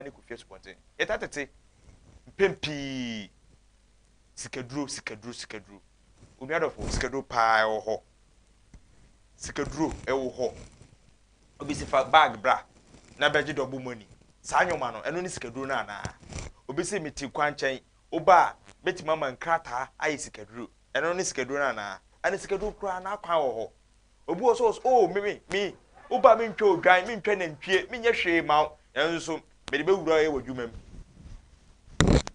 ne kofie asubɔnten. Yɛtaa tete mpɛn pii sikaduro, sikaduro, sikaduro. Onuadɔfo, sikaduro paa ɛwɔ hɔ. Sikaduro ɛwɔ hɔ. Obi si fa bag bra na bɛgye dɔ bɔ mu ani. Saa nneɛma no, ɛno ne sikaduro no anaa? Obi si mete kwankyɛn, woba a mɛtumi ama nkrataa ayɛ sikaduro. Ɛno ne sikaduro no anaa? Ɛne sikaduro koraa, n'akwan wɔ hɔ. Obi wɔ hɔ sɛ ɔwɔ sɛ, Oh, me, me, me, wo ba mentwa odwan, mentwa nantwie, menyɛ hwee mma wo, nanso mede bɛwura wo yɛ w'adwuma mu.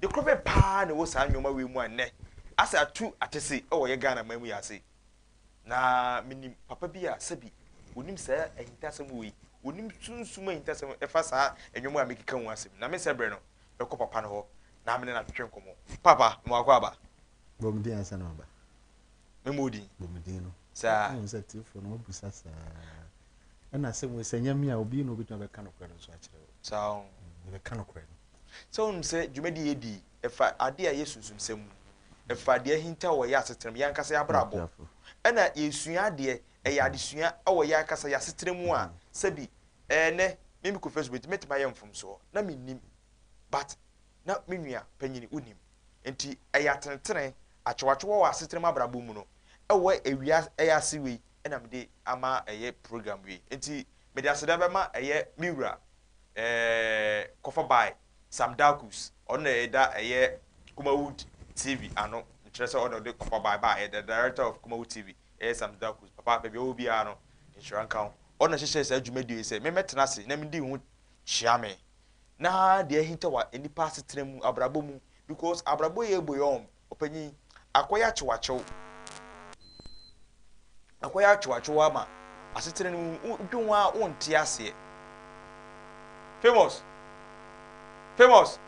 De koro bɛ paa na ɛwɔ saa nneɛma wei mu a nnɛ asɛ atu atese wɔ yɛ Ghana man mu yɛ ase. Na menim papa bi a sɛbi onim saa ahintasɛm wei, onim sunsum ahintasɛm ɛfa saa nneɛma a mekeka ho asɛm. Na mensɛ berɛ no, mɛkɔ papa no hɔ na me ne no atwetwe nkɔmmɔ. Papa, mewɔ akwaaba. Bɔ me din ansa na maba. Mɛma odin. Bɔ me din no. Saa. Wohu sɛ tiefoɔ no wɔbisa saa. Ɛna asɛm wei sɛ nyɛ me a obi na obɛtumi abɛka nokorɛ no nso akyerɛ wo. Saa o. Mebɛka mm, nokorɛ no. Sɛ wonim sɛ dwumadi a yɛdi ɛfa adeɛ a ɛyɛ sunsumsɛm mu. Ɛfa deɛ ahinta wɔ yɛn asetena mu, yɛn ankasa yɛn abrabɔ. Ɛna yɛsua adeɛ, ɛyɛ adesua wɔ yɛn ankasa yɛn asetena mu a, sɛbi ɛɛ nnɛ me mekɔ Facebook nti mɛtumi ayɛ mfomsoɔ. Na mennim but na me nua panyini wonim. Enti ɛyɛ atenetene, akyewakyewa wɔ asetena mu abrabɔ mu no, ɛwɔ awia ɛyɛ ase wei na mede ama ɛyɛ program wei. Enti mede aseda bɛma ɛyɛ me wura ɛɛɛ kɔfa bae Sam Darkus, ɔno na ɛda ɛyɛ Kumawood TV ano, mekyerɛ sɛ ɔna ɔde kɔfa bae baeɛ, the director of Kumawood TV, ɛyɛ Sam Darkus, papa baabi a ɔwɔ biara no nhyira nka wo, ɔna hyehyɛɛ saa dwumadie yi sɛ memmɛtena ase na medi ho kyea me na deɛ ahinta wɔ nnipa asetena mu, abrabɔ mu, because abrabɔ yɛ ebo yɛ wɔn, ɔpanyin, akɔyɛ akyewakyew, akɔyɛ akyewakyew ama asetena no mu, wodwe ho a wonte aseɛ. Famous, famous,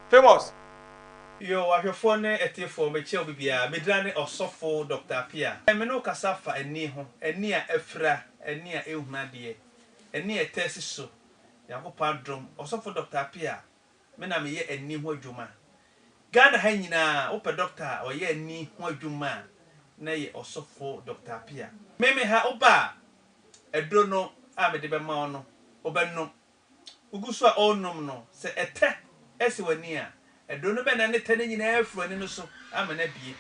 famous. Yo, w'ahwɛfoɔ ne ɛteefoɔ, mekyɛ obi biara, medina ne Ɔsɔfo Doctor Apia. Ɛnnɛ me ne wo kasa fa ani ho, ani a afira, ani a ɛnhunu adeɛ, ani a ɛtaa si so, Nyankopɔn adom, Ɔsɔfo Doctor Appiah, me na meyɛ ani ho adwuma. Ghana ha nyinaa, wopɛ Doctor a ɔyɛ ani ho adwuma a, na yɛ Ɔsɔfo Doctor Appiah. Me me ha, woba a, aduro no a mede bɛma wo no, wobɛnom. Wogu so a ɔrenom no, sɛ ɛtɛ si w'ani a, aduro no bɛnane tɛ no nyinaa afiri w'ani no so ama no abue.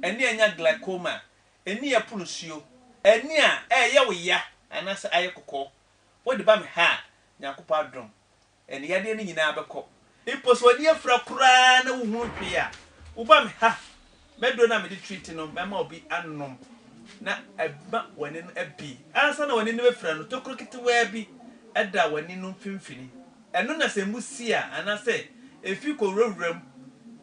Ani a anya glaucoma, ani a ɛpono nsuo, ani a ɛreyɛ wo ya anaasɛ ayɛ kɔkɔɔ, Wode ba me ha a, Nyankopɔn adom, ɛne yadeɛ no nyinaa bɛkɔ. Mpo sɛ w'ani afira koraa na wohunu hwee a, woba me ha, m'aduro no a mede treat no mɛma obi anom na ama w'ani no abie. Ansa na w'ani no bɛfira no, tokuro ketewaa bi da w'ani no mfimfini. Ɛno na sɛ mbu si a, anaasɛ efi kɔwurawura mu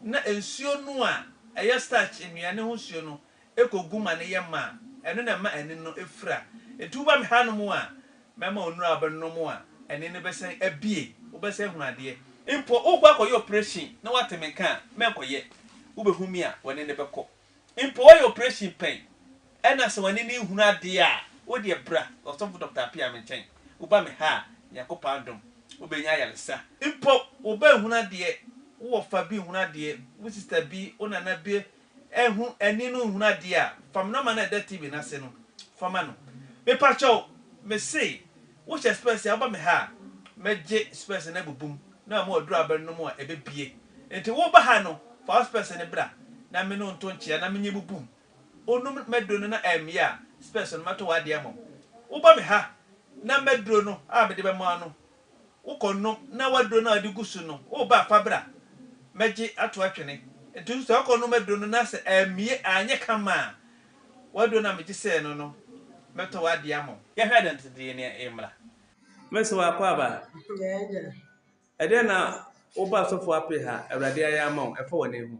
na nsuo no a ɛyɛ starch, nnuane ho nsuo no, kogu ma no yɛ ma a, ɛno na ɛma ani no fira. Enti woba me hanom a, mɛma wo nnuru a wobɛnom a ani no bɛsan abue, wobɛsan ahunu adeɛ. Mpo worekɔ akɔyɛ oprehyɛn na woate me nka a, mɛnkɔyɛ. Wobɛhu me a, w'ani no bɛkɔ. Mpo woayɛ oprehyɛn pɛn na sɛ w'ani no nhunu adeɛ a, wo deɛ bra, Ɔsɔfo Dɔkta Appiah, me nkyɛn. Woba me ha a, Nyankopɔn adom, wobɛnya ayaresa. Mpo wo ba nhunu adeɛ, wo wɔfa bi nhunu adeɛ, wo sista bi, wo nana bi ɛnho ɛni no nhunu adeɛ a fam nɔma no a ɛda TV no ase no fa ma no Mepakyɛw mese wo hyɛ spɛs a woba me ha a mɛgye spɛs no abubu mu na ama waduru abere no mu a ɛbɛbue Nti wo ba ha no fa wo spɛs no bra na me ne wo nto nkyea na menye bubu mu onum m'aduro no na ammue a spɛs no mɛto w'adeɛ ama wo Woba me ha na m'aduro no a mede bɛma wo no Wokɔ no na w'aduro no a wode gu so no, woreba a, fa bra mmɛgye ato atwene. Nti nso sɛ wokɔ nom aduro no na sɛ ammue anyɛ kama a, w'aduro no a megye sɛɛ no no, mɛtɔ w'adeɛ ama wo. Yɛhwɛ adansedie no mmra. Mercy wo akɔ aba? Yɛn agya. Ɛdeɛn na woba asɔfoɔ apee ha Awurade ayɛ ama wo ɛfa w'ani ho?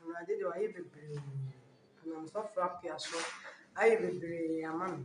Awurade deɛ wayɛ bebree. Ɔnam sɔfoɔ apea so ayɛ bebree ama me.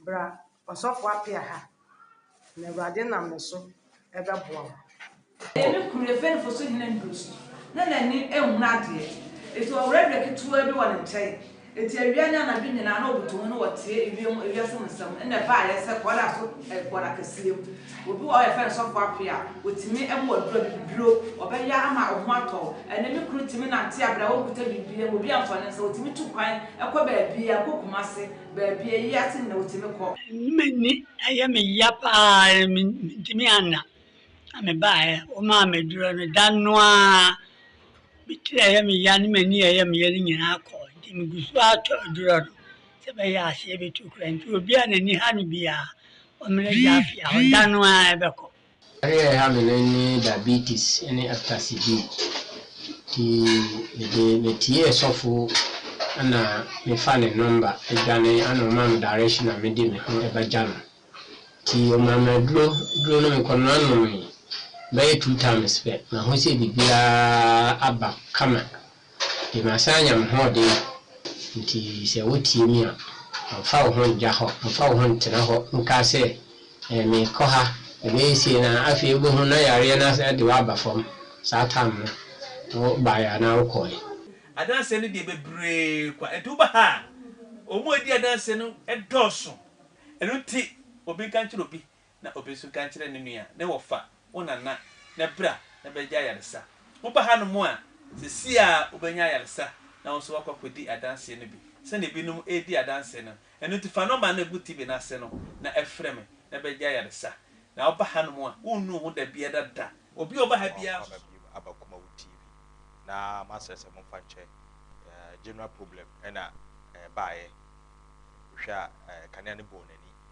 Bra ɔsɔfo apia ha, na Awurade nam ne so bɛboa wo. Ɛyɛ ne kunu Efraimfo so hene nnidiso, na n'ani nhunu adeɛ. Enti ɔwerɛwerɛ ketewaa bi wɔ ne nkyɛn, enti awia ne anadwo nyinaa na ɔbutu ho na ɔteɛ ewiem ewiase mu nsɛm nna ɛba ayɛ sɛ kɔda so wɔ n'akɛseɛ mu. Obi wɔ hɔ a yɛfrɛ no sɔfo apia, ɔtumi mu aduro abibiduro, ɔbɛya ama wo ho atɔ wo. Ɛnnɛ me kunu tumi nante abrɛ a ɔnkuta biribiara mu, obi amfa ne nsa, ɔtumi tu kwan kɔ baabiara, kɔ Kumase, Baabi a eyi ate no na wotumi kɔ. Nnye m'ani, ɛyɛ me ya paa, mentumi anna. Na mebaeɛ, womaa me aduro no, da no ara me tiri a ɛyɛ me ya ne m'ani a ɛyɛ me ya no nyinaa kɔɔ. Nti megu so ara tɔ aduro no sɛ ɛbɛyɛ a aseɛ bɛtu koraa. Nti obi a n'ani ha no biara, ɔmmrɛ Gyafia hɔ, da no ara ɛbɛkɔ. Yareɛ a ɛha me no ne diabetes ne epitasy B. Nti mede metiee sɔfo na mefa ne nɔmba dwane ana ɔmaa me direction a mede me ho bɛgya no. Nti ɔmaa me aduro, aduro no mekɔnoa nomee bɛyɛ two times pɛ, mahu sɛ biribiara aba kama. Enti masan anya me hoɔden, enti sɛ wotie me a, mfa wo ho ngya hɔ, mfa wo ho ntena hɔ nkaa sɛ, Ɛɛ, meekɔ ha, mebɛyɛ sei, na afei wobɛhunu na yareɛ no asan de wo aba fam saa tam no, na wobaeɛ anaa wokɔeɛ. Adanseɛ no deɛ bebree kwa, enti woba ha a, wɔn a wɔdi adanseɛ no dɔɔso. Ɛno nti, obi nka nkyerɛ obi na obi nso nka nkyerɛ ne nua ne wɔfa, wo nana, na bra na bɛgye ayaresa. Woba hanom a, seesei ara wobɛnya ayaresa na wo nso woakɔ akɔdi adanseɛ no bi, sɛdeɛ ebinom redi adanseɛ no. Ɛno nti fa nɔma no a ɛgu TV no ase no na ɛfrɛ me na bɛgye ayaresa. Na woba hanom a, wonnu wo ho da biara da. Obi a ɔba ha biara nso. Mo a moaba biom aba Kumawu TV na masrɛ sɛ momfa nkyɛ general problem na ɛbaeɛ. Wohwɛ a kanea no bɔɔ n'ani.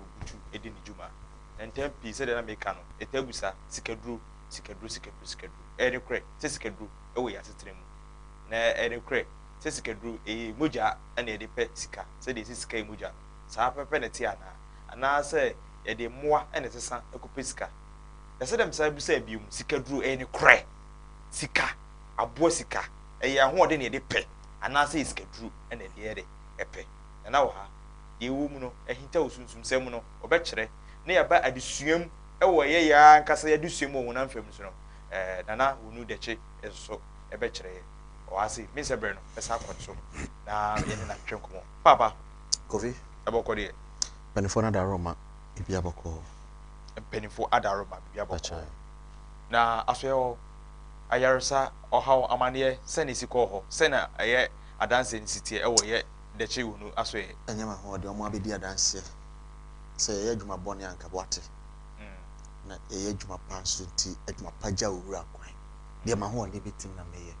obutu di ne dwuma. Na ntɛm pii, sɛdeɛ na meka no, ɛtaa bu saa, Sikaduro, sikaduro, sikaduro, sikaduro. Ɛyɛ nokorɛ sɛ sikaduro wɔ yɛn asetena mu. Na ɛyɛ nokorɛ sɛ sikaduro, ɛyɛ mogya na yɛde pɛ sika. Sɛdeɛ yɛsɛ sika yɛ mogya no, saa ara pɛpɛpɛ na ɛte anaa? Anaasɛ yɛde mmoa na ɛsesa kɔpɛ sika? Na sɛdeɛ mesan bisaa bio no, sikaduro, ɛyɛ nokorɛ? Sika, aboa sika, ɛyɛ ahoɔden na yɛde pɛ anaasɛ ɛyɛ sikaduro na yɛde yɛ dɛ? Ɛpɛ? na na ɔha deɛ ɛwɔ mu no ahintaw sunsumsɛm mu no, ɔbɛkyerɛ, na yɛaba adesua mu wɔ ɛyɛ yɛn ara ankasa yɛn adesua mu wɔ honam fam so no, ɛɛ, na na Wunu Dɛkye nso bɛkyerɛ yɛn. Ɔwɔ ha sei. Mensɛ berɛ no bɛsan akɔ ne so na yɛne no atwetwe nkɔmmɔ. Paapa. Kofi. Ɛbɔkɔ deɛ. Mpanimfoɔ no adaworo ma biribi abɔkɔ. Mpanimfoɔ adaworo ma biribi abɔkɔ. Bɛkyerɛ. Na asoɛɛ hɔ, ayaresa, ɔhaw, amanneɛ, sɛn na ɛsi kɔɔ hɔ? Sɛn na ɛyɛ adanseɛ no si teɛ wɔ yɛ dɛkyɛ hunu asoɛɛ. Ɛnyɛ ma ho ɔde ɔmo abɛdi adanseɛ sɛ yɛyɛ adwuma bɔne a anka boate na yɛyɛ adwuma pa nso nti adwuma pa gya owura kwan deɛ ma ho ɔde bɛtim na mɛyɛ.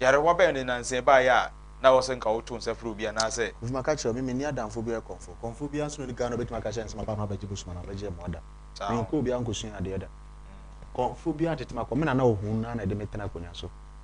Yarewa bɛn ne nansa ɛbaeɛ a na wɔ sɛ nka wo to nsa frɛ obi anaasɛ. Nti ma ka kyerɛ me menni adamfoɔ biara kɔmfoɔ kɔmfoɔ biara nso na ɔdi kan no bɛtumi aka kyerɛ me sɛ maba ha mabɛgye bosoma anaa mabɛgye mmoa da me nkɔɔ biara nkɔsuaa adeɛ da kɔmfoɔ biara tete makɔ me nana ɔhuu no ara na ɛde me tena akonnwa so.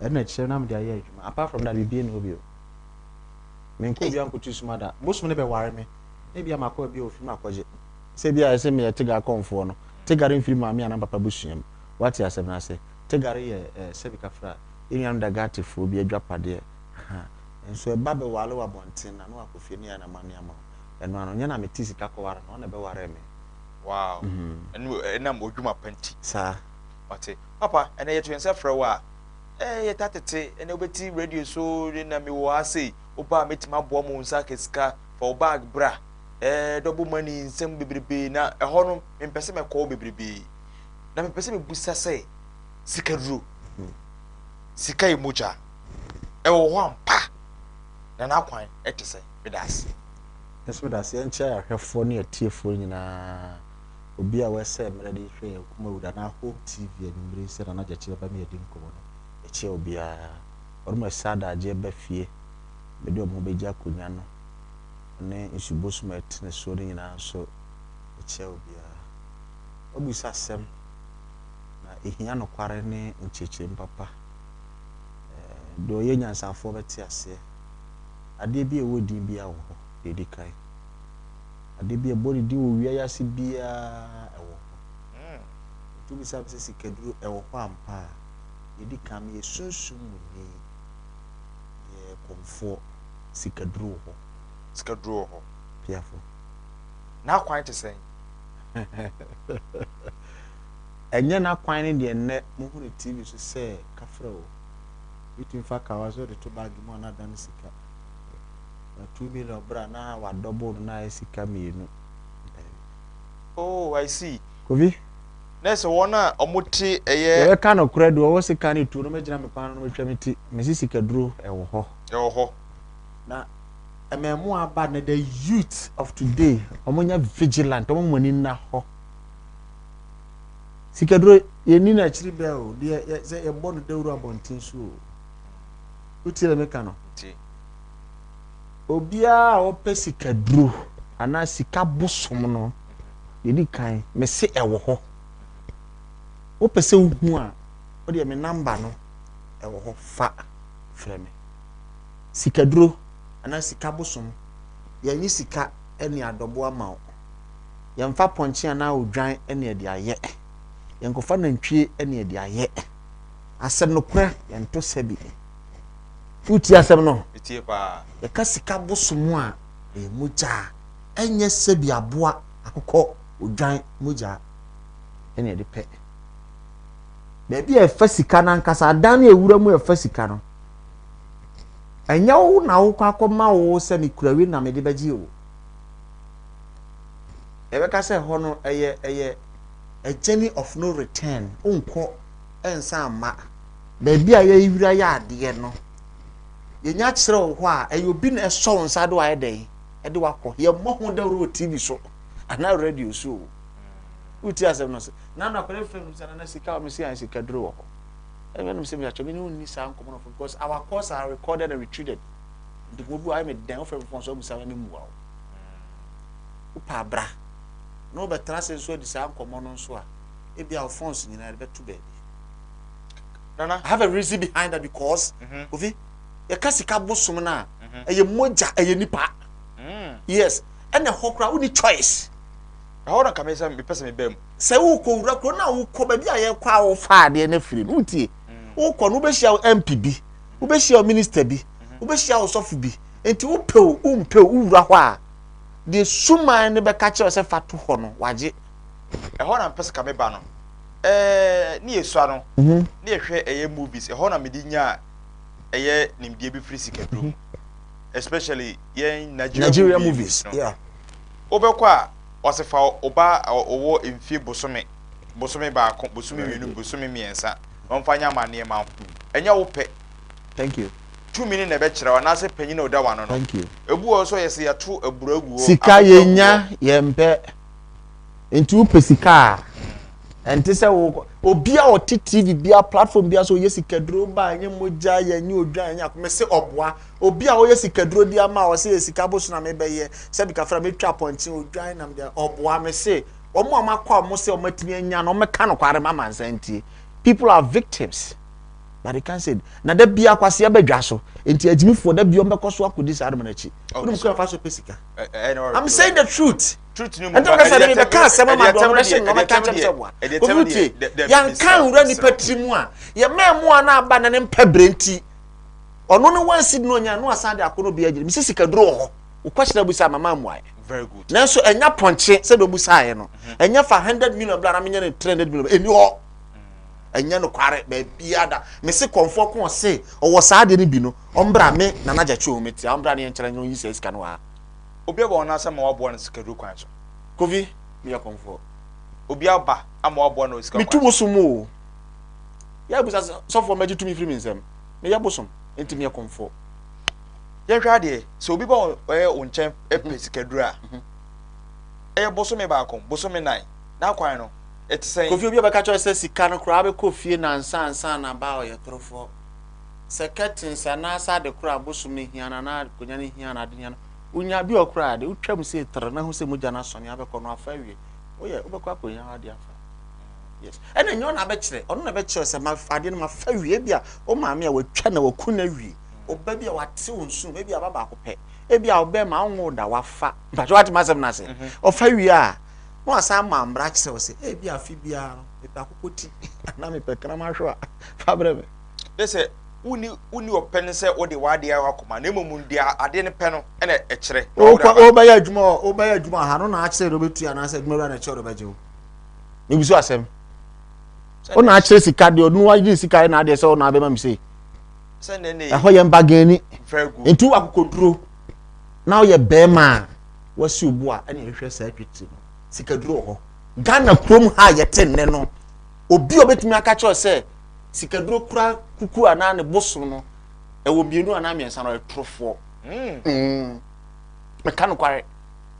ɛno na ɛkyerɛ na mede ayɛ adwuma apart from that biribiara nni hɔ bio. Menkɔɔ bia nkɔtu suma da. Bosom no bɛware me na ebia makɔ baabi a wɔfiri me akɔgye. Sɛ ebia ayɛ sɛ meyɛ Tega kɔmfoɔ no, Tega no mfiri maame anaa papa abusua mu. Woate asɛm no ase? Tega no yɛ eh, sɛbi kafra, yɛn nuanom Dagatefoɔ bi adwapadeɛ. Ahaa. Nso ɛba bɛware wo abɔnten na na wakɔ fie na yɛayɛ no amanneɛ ama wo. Ɛno ano. Nyɛ na mete sika kɔware no, ɔno na ɛbɛwaree me. Wow. Ɛno ɛnam odwuma pa nti. Saa. Wate. Papa, ɛnnɛ yɛto yɛn nsa frɛ wo a, eh, yɛtaa tete, ɛnnɛ wobɛti radio so, de na mewɔ ha sei, wo ba a mɛtumi aboa ma wo nsa aka sika, fa wo bag bra, eh, double money, nsɛm bebrebe, na ɛhɔ no, mempɛ sɛ mɛkɔ hɔ bebrebe. Na mepɛ sɛ mebusa sɛ, sika duro, sika yɛ mogya, ɛwɔ hɔ ampa, na n'akwan ɛte sɛ, meda ase. Nso meda ase nkyɛ ahwɛfoɔ ne atiefoɔ nyinaa. Obi a wɛsɛɛ mmerɛ de hwɛ yɛn Kumawura na Hope TV anwummere yi sɛ Nana Gyakye bɛba me adi nkɔmmɔ no, ɛkyɛɛ obiara. Wɔnom a ɛsɛ adagyeɛ ba fie bɛde wɔn ho bɛgye akonnwa no ne nsubosom a ɛtene soɔ no nyinaa nso, ɛkyɛɛ obiara. Wabisa asɛm, na ɛhia nokware ne nkyerɛkyerɛmu papa. Deɛ ɔyɛ nyansafoɔ bɛte aseɛ. Adeɛ bi a ɛwɔ din biara wɔ hɔ, deɛ ɛdi kan. Ade bi a ɛbɔ ne din wɔ wia yi ase biara wɔ hɔ. Nti wobisa me sɛ sikaduro wɔ hɔ ampa a, deɛ ɛdi kan meyɛ sunsum mu ni, meyɛ kɔmfoɔ, sikaduro wɔ hɔ. Sikaduro wɔ hɔ. Piafoɔ. N'akwan te sɛn? Ɛnyɛ n'akwan ne deɛ nnɛ mohu no TV so sɛ kafra o, wobɛtumi fa kawa so de to baage mu a na adane sika. Na two million bere a na wa double no na ayɛ sika mmienu. Oh I see. Kofi. Na ɛsɛ wɔn a wɔn te ɛyɛ. Yɛbɛ ka no korɛ do ɔwɔ se ka ne tuo no mɛ gyina me kwan no mɛ twa me ti mɛ si sika duro ɛwɔ hɔ. Ɛwɔ hɔ. Na ɛmɛ ɛmo aba na the youth of today wɔn nyɛ vigilant wɔn mo ani na hɔ. Sika duro yɛ ni na akyiri bɛ o deɛ yɛ sɛ yɛ bɔ no dawuro abɔnten so o. Wotie dɛ meka no? Obiara a ɔpɛ sikaduro anaa sika bosom no, deɛ ɛdi kan, mese ɛwɔ hɔ. Wopɛ sɛ wohu a, wodeɛ me namba no ɛwɔ hɔ fa frɛ me. Sikaduro anaa sika bosom, yɛnyi sika ne adɔbo ama wo. Yɛmfa pɔnkye anaa odwan ne ɛde ayɛ. Yɛnkɔfa nantwie ne ɛde ayɛ. Asɛm no korɛ yɛnto sɛ bi. Wotie asɛm no? Metie paa. Yɛka sika bosom a, ɛyɛ mogyaa. Ɛnyɛ sɛ bi aboa, akokɔ, odwan, mogyaa ɛne ɛde pɛ. Baabi a ɛfa sika no ankasa, adan no ɛwura mu ɛfa sika no. Ɛnyɛ wo na wokɔ akɔma wo sɛ mekura wi na mede bɛgye wo. Ɛbɛka sɛ hɔ no ɛyɛ ɛyɛ a journey of no return, wonkɔ. nsa mma. Baabi a yɛrewura yɛ adeɛ no, yɛnya kyerɛ wo hɔ a, ɛyɛ obi na ɛsɔ wo nsa de wayɛ dɛn? De wakɔ. Yɛmmɔ ho dawuro wɔ TV so anaa radio so o. Wotie asɛm no sɛ, Nana akwadaa mfiri anum sɛ nana sika wɔ me se ayɛ sika duro wɔ hɔ. Ɛnyɛ nom sɛ me atwa me ne wo nni saa nkɔmɔ no fo because our calls are recorded and retreated. Nti mo bu ayɛ me dɛn wofrɛ me fɔn so abusa me mmua wo. Wopɛ abra na wobɛtena ase nso adi saa nkɔmɔ no nso a ebi a wo phones nyinaa de bɛto baabi nana i have a reason behind that because mm -hmm. ofi yɛka sika bosom no a mm-hmm. ɛyɛ mogya ɛyɛ nipa mm. yes ɛna ɛhɔ koraa woni choice ɛhɔ na kame sɛ mepɛ sɛ mebaa mu sɛ wokɔ wura kuro na wokɔ baabi a yɛkɔ a wofa adeɛ no afiri no wotie mm. wokɔ no wobɛhyia wo mp bi mm-hmm. wobɛhyia wo minister bi mm-hmm. wobɛhyia wo sɔfo bi nti wopɛ o wompɛ o wowura hɔ a deɛ suman no bɛka kyerɛ sɛ fa to hɔ no wagye ɛhɔ na mepɛ sɛ ka me ba no ɛɛ ne yɛ sua no mhm. ne yɛ hwɛ ɛyɛ movies ɛhɔ na mede nya ɛyɛ nimdeɛ bi firi sikaduro mu mhm. especially yɛn Nigeria, Nigeria movies no yeah. wobɛkɔ a ɔsɛ fa ɔba ɔwɔ mfie bosome bosome baako bosome mmienu bosome mmiɛnsa na ɔmfa nyɛ amanneɛ ma wo ɛnyɛ wo pɛ thank you tumi ne na ɛbɛkyerɛ wa n'asɛ panyin na ɔda wa no no ebu wɔ so yɛ sɛ yɛto aburo agu hɔ sika yɛ nya yɛn pɛ. nti wopɛ sika a ɛnte sɛ wo obi a ɔte tv bia platform bia sɛ ɔyɛ sikaduro ba ɛnyɛ mogya yɛ ɛnyɛ odwa ɛnyɛ ako mese ɔboa obi a ɔyɛ sikaduro di ama a ɔsɛ yɛ sika boso na mebɛyɛ sɛ bi kafra metwa pɔnkye odwan na mede ɔboa mese ɔmo a makɔ a ɔmo sɛ ɔmo atumi anya na ɔmo ka no kware ma mansa ntie people are victims but they can't say na da bia kwasi abɛdwa so nti agyimifoɔ da bia ɔmo bɛkɔ so akɔdi saa adoma no akyi ɔmo kura fa so pɛ sika I'm saying the truth. ɛnti ɔka sɛ ɛde mebɛka asɛm ama doɔ no bɛhye nnɔma ka kyɛm sɛ boa obi tie yɛnka nwura nnipa tiri mu a yɛma mmoa no aba na ne mpa berɛ nti ɔno no wansi no ɔnya no asan de ako no bia gyina mesi sika duro wɔ hɔ wo question abu sɛ mama mmuaeɛ nanso ɛnya pɔnkye sɛ dɔmu saeɛ no mhm. ɛnya fa 100 million bla na menyɛ no 300 million ɛni hɔ mhm. ɛnyɛ no kware baabia da mese kɔmfoɔ ko ɔse ɔwɔ saa deɛ no bi no ɔmbra me nana gya twɛ ɔmɛtia ɔmbra ne yɛnkyerɛ nyɛ ɔyi sɛ sika no waa Obi aba wɔn ase ama wɔaboa no sikaduro kwan so. Kofi, meyɛ kɔmfoɔ. Obi aba ama wɔaboa no wɔ sika kwan so. Metu bosom o. Yɛɛ bisa sɛ, Sɔfoɔ, mɛgye tumi firi me nsam. Meyɛ bosom, enti meyɛ kɔmfoɔ. Yɛnhwɛ adeɛ, sɛ obi ba wɔn nkyɛn pɛ sikaduro a, ɛyɛ bosome baako, bosome nnan, n'akwan no, ɛte sɛn? Kofi, Obi a ɔbɛka kyerɛ wo sɛ sika no koraa bɛkɔ fie nnansa ansa na aba a, ɔyɛ torofoɔ. sɛ curtains anaasɛ ade koro a bosom no hia no anaa akonnwa no hia no ade hia no wonya bi wɔ koro a de wotwam sei tere na ho sɛ mogya no asɔne abɛkɔ no afa awie woyɛ wobɛkɔ akɔhia ade afa yes ɛna nyɛ ɔna abɛkyerɛ ɔno na bɛkyerɛ sɛ ma ade no mafa wie bi a wo maame a watwa na waku na wie ɔba bi a wate wo nsu ebi aba baako pɛ ebi a ɔbɛn ma ɔnwo da wafa mpatwa wate ma asɛm no ase mhm. ɔfa wie a na wasan ma mmara kyerɛ wo sɛ ebi afe biara no mepɛ akokɔ ti anaa mepɛ kram ahwewa fa brɛ me na sɛ wonni wonni ɔpɛ no sɛ wode w'adeɛ ayɛ w'akoma na mmom deɛ adeɛ no pɛ no na ɛkyerɛ. Wobɛyɛ adwuma hɔ wobɛyɛ adwuma ha no na akyerɛ deɛ wobɛtua anaasɛ adwuma wura na ɛkyerɛ deɛ wobɛgye wo mebu so asɛm wo na akyerɛ sika deɛ ɔno wagye sika na adeɛ sɛ wo na abɛma me sei ɛhɔ yɛ mbagani nti wo akokoduro na woyɛ bɛrima a wasi obu a ɛna ɛhwɛ saa twitiri no sikaduro wɔ hɔ ghana kurom ha yɛte nnɛ no Obi a ɔbɛtumi aka kyerɛ sɛ sikaduro kura kuku anaa ne bo so no ɛwɔ mmienu anaa mmiɛnsa no ɔyɛ torofoɔ. Hmm. Hmm. Meka nokware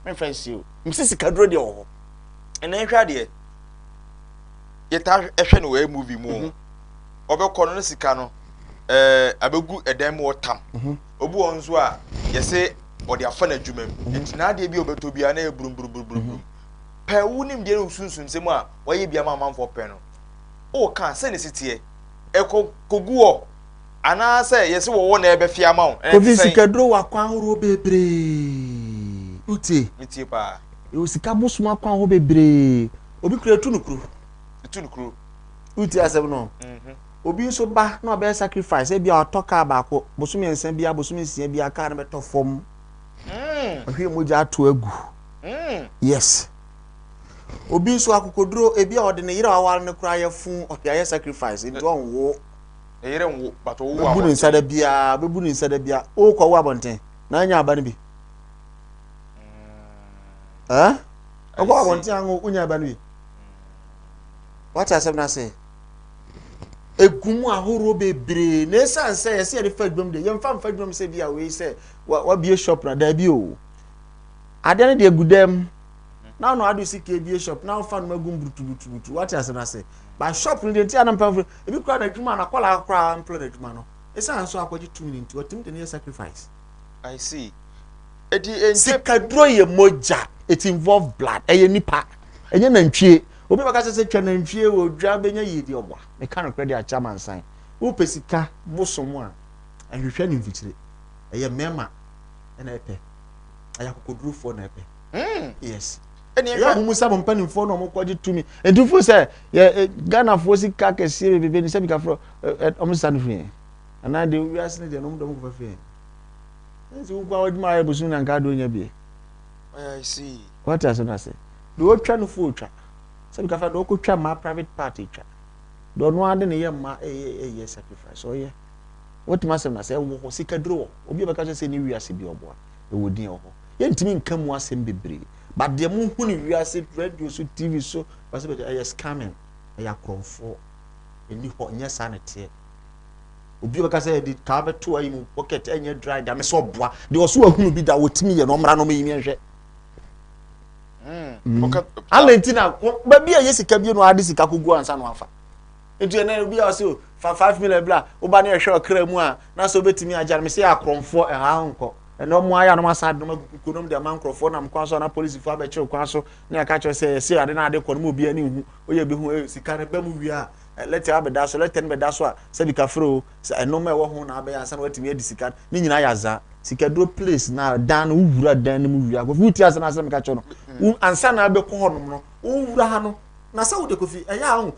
memfa nsie o. Mese sikaduro deɛ wɔ hɔ. Ɛnna nhwɛ adeɛ yɛtaa ɛhwɛ no wɔ movie mu mhm. ɔbɛkɔ no ne sika no ɛɛ abɛgu ɛdan mu ɔtam mhm. obi wɔn nso a yɛse ɔde afa n'adwuma mu mhm. nti n'adeɛ bi a ɔbɛtɔ biara na yɛ buruburuburuburum pɛ wo nimdeɛ ne wo sunsumsɛm a wɔayɛ bi ama amanfoɔ pɛ no, woka a, sɛ na ɛsi teɛ? Ɛkɔ kɔgu hɔ? Anaasɛ yɛse wɔwɔ na ɛbɛfe ama wo? Ɛnɛ te Obi sɛn? sika duro wɔ akwan ahoroɔ bebree. Wotie? Metie paa. Yɛwɔ sika bosom akwan ahoroɔ bebree. Obi kura ɛtu no kuro. Ɛtu no kuro. Wotie asɛm no? Obi nso ba na ɔbɛyɛ sacrifice, ebia ɔtɔ kaa baako, bosome nsa biara, bosome nsia biara kaa no bɛtɔ fam. Wahwie mogya ato agu. Mm. Yes. Obi nso akokoduro ebi a ɔde ne yere a ɔware no koraa yɛ fun ɔde ayɛ sacrifice nti ɔnwo. Ne yere nwo but ɔwo abɔnten. Bɛbu ne nsa da biara bɛbu ne nsa da biara ɔkɔ wo abɔnten na anya aba no bi. Ɛɛ mm. eh? ɔkɔ abɔnten anwo wonya aba no bi. Wate asɛm no ase. Egum ahorow bebree na esan sɛ yɛsɛ yɛde fa adwam de yɛmfa mfa adwam sɛ bi a wei sɛ wabie shop na daabi o. Adeɛ no deɛ gu dɛm. Na ɔno ade si kee bie shop na ɔfa no ma gum butubutubutu wate ase na se. Ba shop no deɛ nti ana mpamfo ebi kura na adwuma na kɔla kura mpla na adwuma no. Esa nso akɔgye tumi ne nti watumi de ne yɛ sacrifice. I see. Eti enti. Sika duro yɛ mogya. It involve blood. Ɛyɛ nipa. Ɛnyɛ nantwie. Obi bɛka sɛ sɛ twa nantwie wɔ dwa bɛnya yie deɛ ɔboa. Meka nokorɛ deɛ akyɛ amansan. Wopɛ sika bosom a ɛnhwehwɛ ne mfikyire. Ɛyɛ mmarima na ɛpɛ. ɛyɛ akokodurofoɔ na ɛpɛ hmm. yes ɛyɛ ahom sɛ mo mpanimfoɔ na ɔmokɔgye tumi ɛnti fo sɛ yɛ ghanafoɔ sika kɛseɛ bebebe ne sɛ bikafoɔ ɔmo sa no firi yɛn anaa deɛ wiase no deɛ no ɔmodɔ mo kɔfa firi yɛn ɛnti wokɔ a wadwuma ayɛ bosom na nka adeɛ ɔnya bie wate asɛm no ase deɛ ɔtwa no fo ɔtwa sɛ bikafa deɛ ɔkɔtwa mmaa private part ɛtwa deɛ ɔno ade ne yɛ mmaa ɛyɛ sacrifice ɔyɛ Wotumi asɛm no asɛ ɛwɔ hɔ, sika duro wɔ hɔ, obi a ɔbɛka kyerɛ sɛ ɛnni wiase bi ɔboa, ɛwɔ din ɛwɔ hɔ. Yɛntumi nka mu asɛm bebree, but deɛ mo hu no wiase radio so, TV so, whatever it is, ɛyɛ scamming, ɛyɛ akorɔmfoɔ, ɛnni hɔ, nyɛ saa na ɛteɛ. Obi a ɔbɛka sɛ ɛde kaa bɛto ayi mu pocket, ɛnyɛ dry da, mesɛ ɔboa, deɛ ɔso ahunu bi da, wɔtumi yɛ no, ɔmmra no ɔmɛyi miɛnhwɛ. Mm. Mm. Alenti na baabi a yɛ sika bi no ade sika kogu ansa no afa. Nti ɛnɛ obi a ɔsɛ fa five million bla wo ba no ɛhwɛ ɔkra mu a na sɛ obetumi agya no me sɛ yɛ akorɔmfoɔ ɛha nkɔ ɛnɛ ɔmo ayɛ anam asa adenom agu kukuo nom de ama nkorɔfoɔ nam kwan so na polisifoɔ abɛkyerɛ kwan so ne ɛka kyerɛ sɛ ɛsɛ ade na ade kɔ no mu obiara ne nhu oyɛ bi ho eh, sika no bɛ mu wie a eh, lɛtɛ abɛda so lɛtɛ no bɛda so a sɛbi kafere o sɛ ɛnom a ɛwɔ ho na abɛyɛ ansa na watumi adi sika no ne nyinaa yɛ azaa sikaduro place na dan no wowura dan no mu wie a kofi wotie asɛm asɛm ka kyerɛ no ansa na abɛkɔ hɔ nom no wowura ha no na sɛ wode kofi ɛyɛ a ho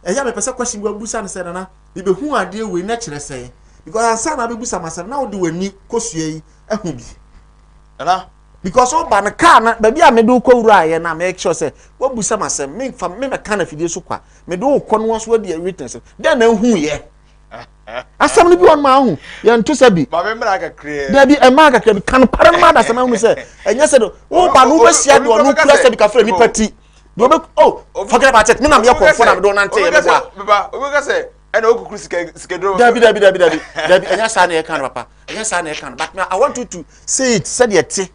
ɛyɛ a mepɛ sɛ question bi wabisa no sɛ nana mebehu adeɛ wei na kyerɛ sɛ because ansa na abɛbisa ma sɛ na wode w'ani kosua yi ahu bi nana because woba no kaa no baabi a mede wokɔ wura ayɛ na make sure sɛ wabusa ma sɛ memfa memɛka no afidie so kwa mede wokɔ no nso adi witness dɛn na nhuyɛ asɛm no bi wɔn maa ho yɛn to sɛ bi dabi ɛmaa kakra bi kan para no maa dasɛm ahunu sɛ ɛnyɛ sɛ de woba no wobɛsia de ɔno kura sɛ bi kafra nipa ti deɛ ɔbɛ oh forget about it mi na mi yɛ kɔnfɔ na mi dɔn nante yɛ mi bɔ a. baba obi ka sɛ ɛna o kukuru sika sika duro. dabi dabi dabi dabi dabi ɛnyɛ saa na yɛ kan papa ɛnyɛ saa na yɛ kan but i want you to say it sɛdeɛ ɛte.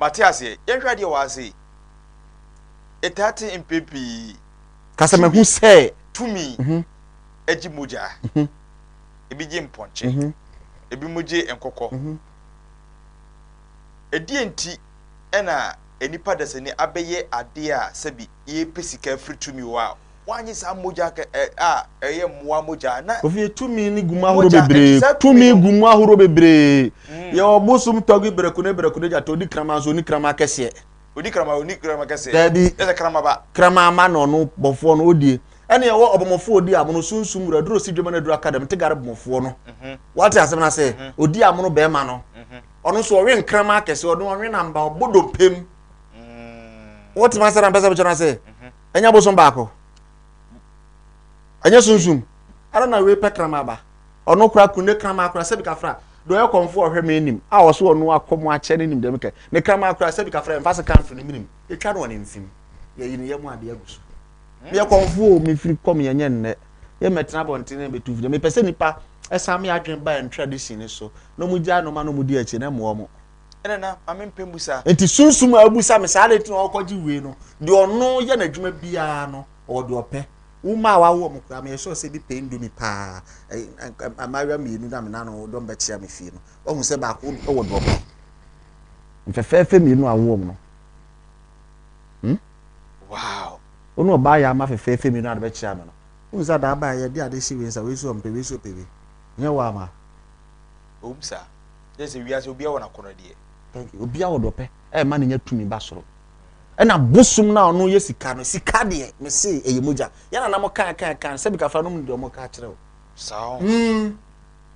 mate aseɛ yɛn hwɛ adeɛ wɔ ase ɛtaa te mpɛ pii. kasa ma hu sɛ. tumi mhm. ɛgye mogya mhm. ebi gye mpɔnkye mhm. ebi mo gye nkokɔ. Ɛdeɛn nti na nnipa dasani abɛyɛ adeɛ a sɛbi yɛrepɛ sika afiri tumi hɔ a wɔanye saa mogya a ɛyɛ mmoa mogya a na Ofie tumi no gu mu ahorow bebree. Tumi gu mu ahorow bebree. Yɛwɔ bosom tɔgbi berekune berekune gyata odi kraman so onni kraman kɛseɛ. Odi kraman onni kraman kɛseɛ. Daabi. Ɛsɛ kramaba. Kraman ma na ɔno bɔfoɔ no odie. Ɛne ɛwɔ ɔbɔmɔfoɔ odi amono sunsum wura duro si dwema na duro akadam te gare bɔmɔfoɔ no. Wate asɛm no ase? Odi amono bɛrima no. ɔno nso ɔwe nkrama akɛse ɔno ɔwe namba ɔbɔ dompe mu mm. wotumi asɛ na mpɛ sɛ wokyɛ no ase mhm. ɛnyɛ bosom baako ɛnyɛ sunsum ɛna na wei pɛ krama aba ɔno kora kunde krama akora sɛbi kafra deɛ ɔyɛ kɔmfo ɔhwɛ me anim a ɔso ɔno akɔ mu akyɛ ne nim dɛm kɛ ne krama akora sɛbi kafra mfa se kamfo ne minim ɛtwa no ɔne mfim yɛyi ne yɛ mu adeɛ agu so Meyɛ kɔmfoɔ o, mefiri kɔm yɛ nyɛ nnɛ. Yɛ mɛtena abɔnten na mɛtu firi. Mepɛ sɛ nnipa san me adwene ba yɛn tradition no so na wɔn gyae nnoɔma na wɔn di akyi na mmoa wɔn. Ɛna na ma me mpɛ mbusa. Nti sunsum a abusa me saa adɛn nti na ɔkɔ gye wei no deɛ ɔno yɛ n'adwuma biara no ɔwɔ deɛ ɔpɛ. Wo mma a wawo wɔn koraa meyɛ sure sɛ bi pɛ indomie paa mmaayewa mmienu na me nano dɔm bɛkyea me fie no wahu sɛ baako wɔ deɛ ɔpɛ. Mfɛfɛɛfɛ mmienu a wawo wɔn no hmm. Wow! Wo ne ɔbaa yaama fɛfɛɛfɛ mmienu ade bɛkyɛ ano no, wohu sɛ adaa baeɛ yɛde ade hye wei nsa wei so ɔmpɛ wei so ɔpɛ wei. Nyɛ wo ama? Ɛwom saa. Kyerɛ sɛ wiase obiara wɔ n'akɔnnɔ deɛ. Thank you. Obiara wɔ deɛ ɔpɛ. Ɛma no nya tumi ba soro. Ɛna bosom no a ɔno yɛ sika no, sika deɛ mese ɛyɛ mogya. Yɛn nana mo kaa kaa kaa sɛ bikafra nom deɛ ɔmo kaa kyerɛ wo. Saa. Hmm.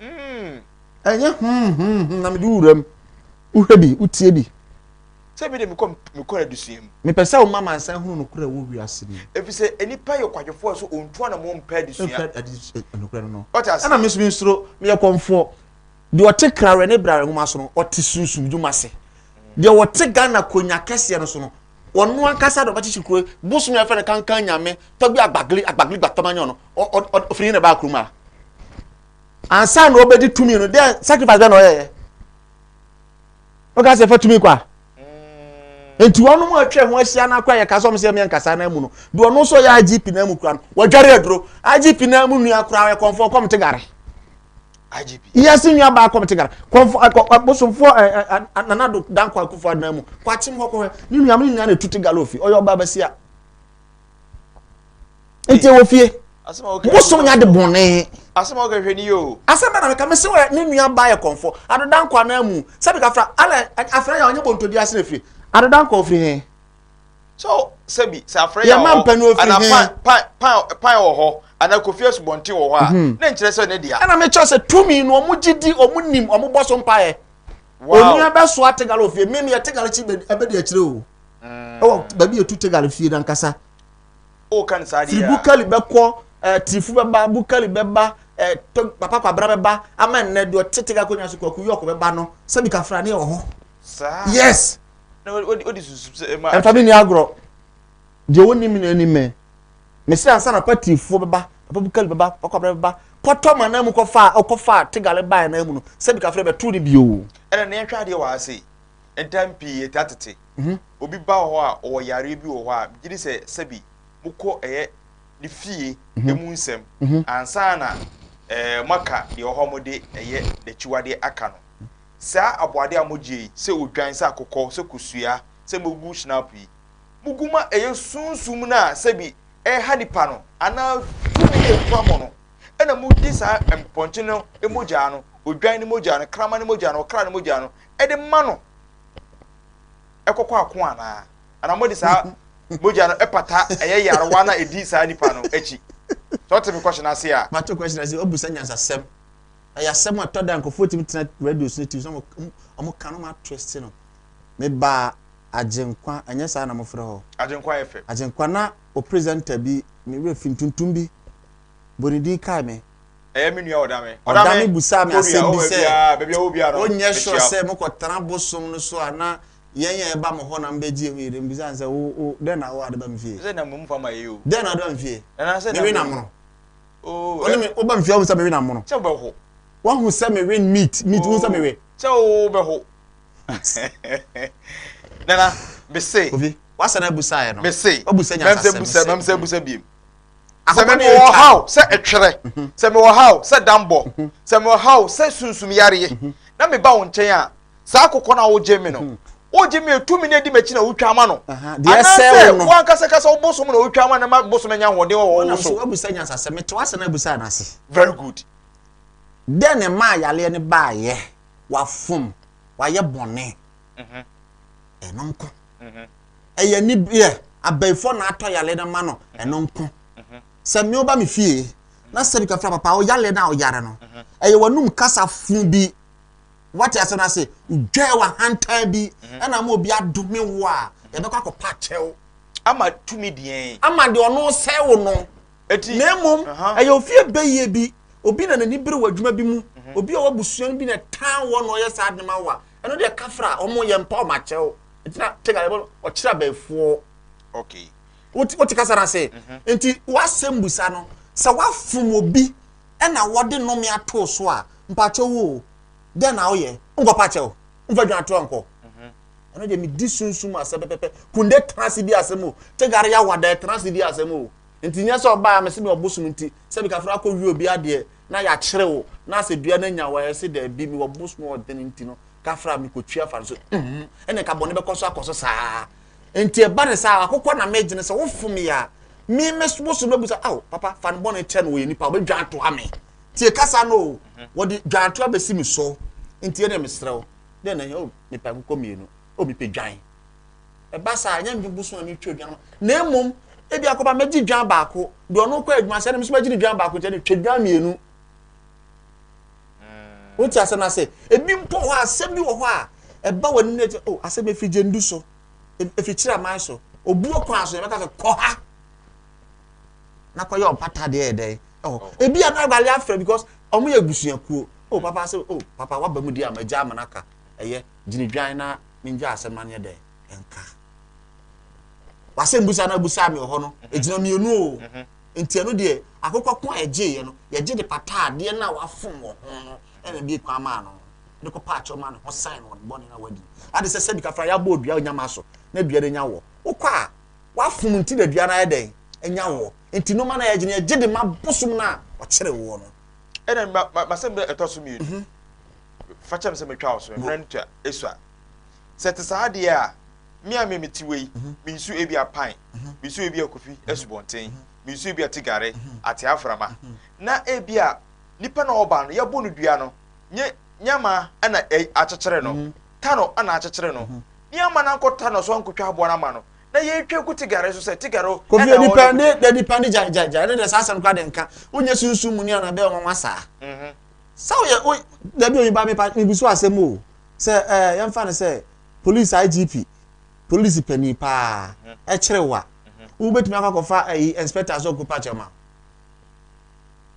Mm, ɛnyɛ hmm, hmm, hmm, na mede wo wuram. Wohwɛ bi, wotie bi. Sɛ bi de mekɔ mekɔ adesua mu. Mepɛ sɛ woma mansan hunu nokorɛ wɔ wiase mu. Ɛfiri sɛ nnipa yɛ kwadwofoɔ a so ɔntu ana mo mpɛ adesua. Mpɛ adesua eh, nokorɛ no no. Ɔte ase. Ɛna me nso me nsuro meyɛ kɔmfoɔ. Deɛ ɔte krawerɛ ne brare nwoma so no ɔte sunsum dwuma ase. Deɛ ɔte Ghana konya kɛseɛ no so no ɔno ankasa na ɔbɛkyekye kuro bosom yɛfrɛ no kankan nyame tɔ bi agbagli agbagli gbatɔma nyɛ ɔno ɔfiri he na ɛbaa kurom a ansa na ɔbɛdi tumi no dɛ sacrifice bɛ na ɔyɛyɛ ɔka sɛ ɛfa tumi kɔ a mm. nti wɔn mu atwa ho ahyia no akora yɛ ka sɛ ɔmo sɛ ɛmɛ nkasa na mu no deɛ ɔno nso yɛ igp na mu kura no wɔdware aduro igp na mu nua kura yɛ kɔnfɔ kɔm te gare yɛse nua baako mete gara kɔmfo bosomfoɔ nanado danko akufo adena mu kwakyem hɔ kɔhwɛ ne nua me nyinaa na ɛtu te gara ofie ɔyɛ ɔba basia nti ɛwɔ fie bosom nya de bɔne asɛm a wokɛhwɛ ni yoo asɛm bɛna meka mese wɛ ne nua ba yɛ kɔmfo adodanko anaa mu sɛ mekafra ala afra yɛ ɔnyɛ bɔntɔdi ase na firi adodanko ofiri he so sɛbi sɛ afrɛ yɛ wɔ hɔ ana pan pan pan pan wɔ hɔ ana kofi asubɔnten wɔ hɔ a mhm. ne nkyerɛ sɛ ne dea. ɛna mi kyerɛ sɛ tumi no ɔmo gye di ɔmo nim ɔmo bɔ so mpa yɛ. onua bɛ so ate galo fie mímu yɛ te galo kyi ɛbɛ di akyire o mm. ɛwɔ baabi etu te galo fie nankasa. o kan saa di ya firi bukali bɛ kɔ ɛɛ tirifu bɛ ba bukali bɛ ba ɛɛ to papa kwabra bɛ ba ama nnɛ deɛ ɔte te galo konya so kɔ kuyɔkɔ bɛ ba no sɛbi kafra ne wɔ hɔ. yes. Ɛmfa me nni agorɔ. Deɛ ɔnim no anim me. Mese ansa na patifoɔ bɛba, Papa Bukali bɛba, Papa Kwabena bɛba, kɔtɔ ma nan mu kɔfa a ɔkɔfa a Tegale baeɛ nan mu no, sɛ bi kafrɛ bɛto no bio. Ɛna nea ɛhwɛ adeɛ wɔ ha sei, ntam pii yɛte atete. Obi ba wɔ hɔ a ɔwɔ yareɛ bi wɔ hɔ a, megye di sɛ sɛbi mokɔ ɛyɛ ne fie ɛmu nsɛm ansa na moaka deɛ ɔwɔ hɔ a mode ɛyɛ n'akyiwadeɛ aka no. Saa aboade a mogye yi, sɛ odwan, sɛ akokɔ, sɛ kosua, sɛ mogu shinap yi, mogu ma ɛyɛ sunsum no a sɛbi ɛreha nipa no anaa tumi a ekura mo no, ɛna mogye saa mpɔnkye no mogyaa no, odwan no mogyaa no, kraman no mogyaa no, ɔkra no mogyaa no, ɛde ma no ɛkɔkɔ ako anaa? Anaa mode saa mogya no ɛpata ɛyɛ yarewa no a ɛdi saa nipa no akyi? Sɛ ɔte me kɔhyɛ no ase a. Mato kɔhyɛ no ase, wabu saa nyansasɛm. Ɛyɛ asɛm a ɛtɔ da a nkurɔfoɔ tumi tena radio so ne TV so na wɔn wɔn ka no ma twist no. Me baa Agyenkwa ɛnyɛ saa na mofrɛ hɔ? Agyenkwa FM. Agyenkwa na o presenter bi me werɛ fi ntuntum bi bɔ ne din kae me. Ɛyɛ me nua Ɔdame. Ɔdame busaa me asɛm bi sɛ, wonyɛ sure sɛ mokɔ tena bosom no so a na yɛn a yɛba mo hɔ na mobɛgye yɛn ho yɛdie? Mebisaa no sɛ, wo wo dɛn na wo ade ba me fie? Dɛn na wode ba me fie? Me we na mono. Oh. Ɔne me woba mfie ahu sɛ mewe na mono. Kyɛ wobɛho. Wahu sɛ mewe meat meat wohu sɛ mewe. Kyɛ wobɛho. Nana mese. Obi wasa na abusa yɛ no. Mese. Wabusa nya sasɛ mese. Mem sɛ busa biem. Sɛ me wɔ haw sɛ ɛtwerɛ. Sɛ me wɔ haw sɛ dambɔ. Sɛ me wɔ haw sɛ sunsum yareɛ. Na me ba wo nkyɛn a saa kokɔ no a wogye me no hmm. wogye me tumi na edi m'akyi na wotwa ama no anaasɛ wankasakasa wo bosom na wotwa ama no ma bosom anya ahoɔden wɔ wɔn so wabusa nyansa sɛ metew ase na abusa anase very good dɛn ne maa yaleɛ no baayɛ wafom wayɛ bɔne mhm. ɛno nko mhm. ɛyɛ ni yɛ abɛɛfo na atɔ yaleɛ no ma no mhm. ɛno nko sɛ mmea ba me fie na sɛ bi kafra papa ɔyaleɛ no a ɔyare no ɛyɛ wɔnum kasa fun bi wate asɛm no ase wodwae wahantan bi mhm. ɛna ma obi adome wo a mhm. yɛbɛkɔ akɔpa kyɛw ama tumi deɛn ama deɛ ɔno sɛ wo no na mmom ɛyɛ ofie bɛyie bi obi na n'ani bere wɔ adwuma bi mu mhm. obi a ɔwɔ abusua no bi na ɛtan wɔ na ɔyɛ saa de ma wa ɛno deɛ kafra ɔmo yɛ mpa ɔmo akyɛw ntina tega yɛbɔ ɔkyerɛ abɛɛfoɔ wote kasa no ase nti w'asɛm busa no sɛ wafom obi na wɔde nnome atoo so a, mpakyɛw o, dɛn na woyɛ? Nkɔpa akyɛ o, mfa dwan to nkɔ. Ɛno deɛ medi sunsum asɛ pɛpɛpɛ. Kunde tena ase di asɛm o, Tegare Yawada tena ase di asɛm o. Nti nyɛ sɛ ɔbaa me se me ɔbosom nti, sɛ bi kafra akɔ wie obi adeɛ na yɛakyere wo na sɛ dua no anya wo a, yɛse daabi, mewɔ bosom ɔden nti no, kafra mekɔtua fa no so. Uhmm, ɛne nka bɔne bɛkɔ so akɔ so saa. Enti ɛba ne saa, akokɔ na megye no sɛ wofom yɛ a, me me wo so bɛbu sɛ, ao papa fa no bɔne kyɛ no wɔyɛ nipa wɔbɛdwa atoa me. Tie kasa no o, wɔde dwa atoa bɛsi me so. Nti ɛne mesrɛ wo, dɛn na ɛhia o mepɛ akokɔ mmienu, o mepɛ dwan. Ɛba saa, ɛnyɛ mfe boso a metwa dwan na mmom ebi akɔba mɛgye dwan baako, deɛ ɔno kɔ adwuma sɛ ɛne me so mɛgye ne dwan baako nti ɛne twa dwan mmienu. Wonte asɛm no ase? Ebi mpo hɔ asɛm bi wɔ hɔ a ɛba w'anim na ɛkyɛ, oh, asɛm ɛfiri gyendu so, ɛfiri kyerɛ aman so, obuo kwan so, yɛbɛka sɛ kɔ ha na kɔyɛ ɔmpata deɛ yɛ dɛn ɛhɔ. Oh. Ebi a na awurade afrɛ because wɔn yɛ abusuakuo. O oh, papa sɛ o oh, papa waba mu di ama gya ama no aka ɛyɛ gyinidwan na mengya asɛm no anyɛ dɛn ɛnka. Wasɛm busa na abusa me wɔ hɔ no, ɛgyina mmienu o. Mm-hmm. Enti ɛno deɛ, akokɔ ko a ɛgyeeɛ no, yɛgye de pataa adeɛ no a wafom wɔ ho no na ɛbue kwan maa no de kɔpaa kyɛw maa ne ho san no wɔ ne bɔne no a wadi no. Ade sɛ sɛbi kafra yɛabɔ odua nya ma so na dua no anya woɔ. Wokɔ a, wafom nti na dua no ayɛ dɛn? Anya woɔ. Enti nnoɔma no a yɛgye no, yɛgye de ma bosom no a ɔkyere woɔ no. Ɛnna ma, ma, m'asɛm no ɛtɔ so mmienu. Fa kyɛ me sɛ metwa wo so, mmerɛ no twa, esua. Sɛ ɛte saa deɛ a, me a me mete wei, mensu ebia Pan, mensu ebia Kofi Asubɔnten, mensu ebia Tigare, Ate Aframa. Na ebia nipa na ɔba no, yɛbo no dua no, nye nyama na akyekyere no, ta no na akyekyere no, ne ama no ankɔta no so ankɔtwa aboa no ama no, na yɛtwa gu Tigare so sɛ Tigare na ɔwɔ no Kofi. Kofi nipa ne gyae gyae gyae, ɛno deɛ saa asɛm koraa deɛ nka, wonyɛ sunsum muni anaa bɛyɛ nwanwa saa. sɛ woyɛ wo dabi oyin ba mepa mebusu asɛm o sɛ ɛɛ eh, yɛmfa no sɛ police igp police panyin paa mhm. ɛkyerɛ wa mhm. wobɛtumi akɔ akɔfa ayi eh, inspector sɛ ɔkɔpa kyɛw ma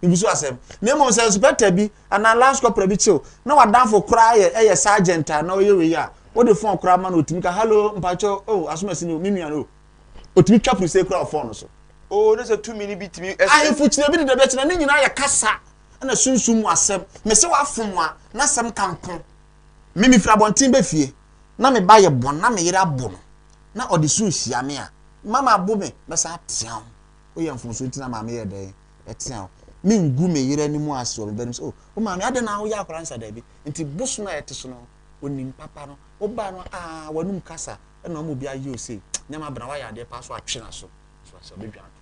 mebusu asɛm na mmom sɛ inspector bi anaa lance corporal bi kyew na wadanfo koraa yɛ ɛyɛ eh, sergeant a na ɔyɛ wei a wode fɔn koraa ma no ɔtumi ka hallo mpakyɛ o oh, asomasi no me nua no ɔtumi twa prise koraa ɔfɔn no so o oh, ne sɛ tumi no bi tumi ahemfo kyerɛ bi de dabi akyerɛ ne nyinaa yɛ kasa na sunsum mu asɛm. Mese wafom a, n'asɛm ka nko. Me mefiri abɔnten ba fie, na me ba yɛ bɔn na me yere abo no, na ɔde su hyia me a, mama abo me, mɛsan atea ho. Woyɛ mfomso nti na maame yɛ dɛn? Ɛtea ho. Mengu me yere anim ase wɔ me ba anim sɛ, o, oh, wo maame, adɛn na woyɛ akwadaa nsa daabi? Nti bosom a ɛte so no, onim papa no, wo ba no, aa, ah, w'anum kasa, ɛna ɔma obi ayɛ o sei, nneɛma bena, wayɛ adeɛ paa so atwe n'aso, so asɛ ɔbɛdwane.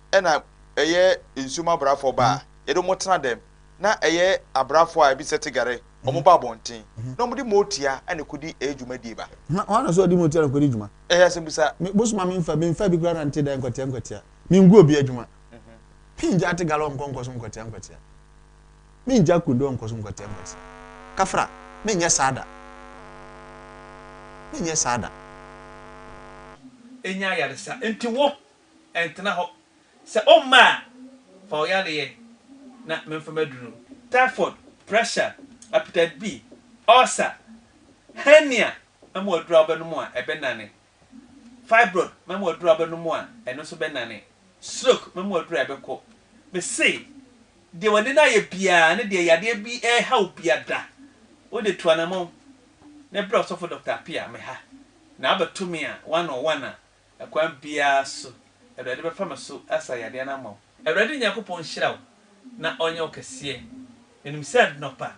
na ɛyɛ nsuom abrafo ba a yɛde wɔn tena dɛm, na ɛyɛ abrafo a ebi sɛ tigare, wɔn ba abɔnten, na wɔde motia na ekodi ɛyɛ dwumadie ba. Hwan hwan na so ɔde motia na ekodi dwuma? Ɛyɛ asɛmbisa. Me bosom a menfa bi nfa bi koraa na nte dɛ nkwatia nkwatia. Mengu obi adwuma. Mengyaa tigare ɔnkɔ nkɔsom nkwatia nkwatia. Mengyaa kunde ɔnkɔsom nkwatia nkwatia. Kafra, menyɛ saa da. Menyɛ saa da. Enya ayaresa. Enti wo, ɛntena hɔ. Sɛ ɔmma a, fa wo yareɛ na memfa m'aduro. Typhoid, pressure, hepatitis B, ulcer, hernia, ma mu aduro a wobɛnom a ɛbɛnane, fibroid, ma mu aduro a wobɛnom a ɛno nso bɛnane, stroke, ma mu aduro a ɛbɛkɔ. Mese, deɛ w'ani no ayɛ biara ne deɛ yadeɛ bi reha wo biada, wo de tu anamɔn na brɛ ɔsɔfo Dɔkta Appiah, me ha, na abɛto me a one on one a, Ɛkwan biara so, Awurade bɛfa me so asa yadeɛ no ama wo. Awurade Nyankopɔn nhyira wo na ɔnyɛ wo kɛseɛ. Menim sɛ anɔpa,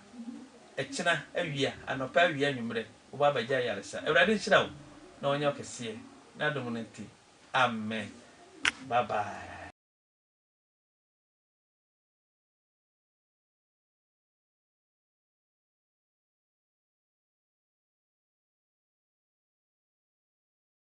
ɛkyena, awia, anɔpa, awia, anwummerɛ, wobɛ abɛgye ayaresa. Awurade nhyira wo na ɔnyɛ wo kɛseɛ, n'adom no nti. Amen. Bye bye.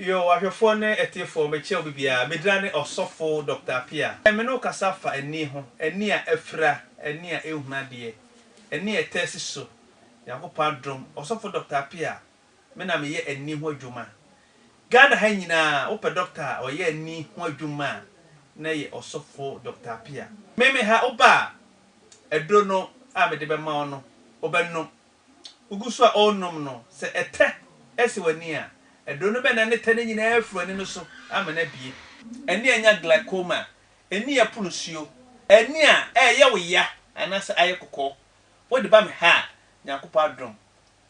Yoh, ahwɛfoɔ ne atiefoɔ, mekyɛ obibiara. Me dina ne Ɔsɔfo Doctor Appiah. Ɛnnɛ me ne wo kasa fa ani ho, ani a afira, ani a ɛnhunu adeɛ, ani a ɛtaa si so. Nyankopɔn adom, Ɔsɔfo Doctor Appiah, Me na meyɛ ani ho adwuma. Ghana ha nyinaa wopɛ doctor a ɔyɛ ani ho adwuma a na ɛyɛ ɔsɔfo Doctor Appiah. Me me ha woba a aduro no a mede bɛma wo no wobɛnom. Wogu so a ɔrenom no sɛ ɛtɛ si w'ani a aduro no bɛnane ɛtɛ no nyinaa afiri w'ani no so ama no abue. Ani a anya glaucoma, ani a ɛpono nsuo, ani a ɛreyɛ wo ya anaasɛ ayɛ kɔkɔɔ, wode ba me ha a Nyankopɔn adom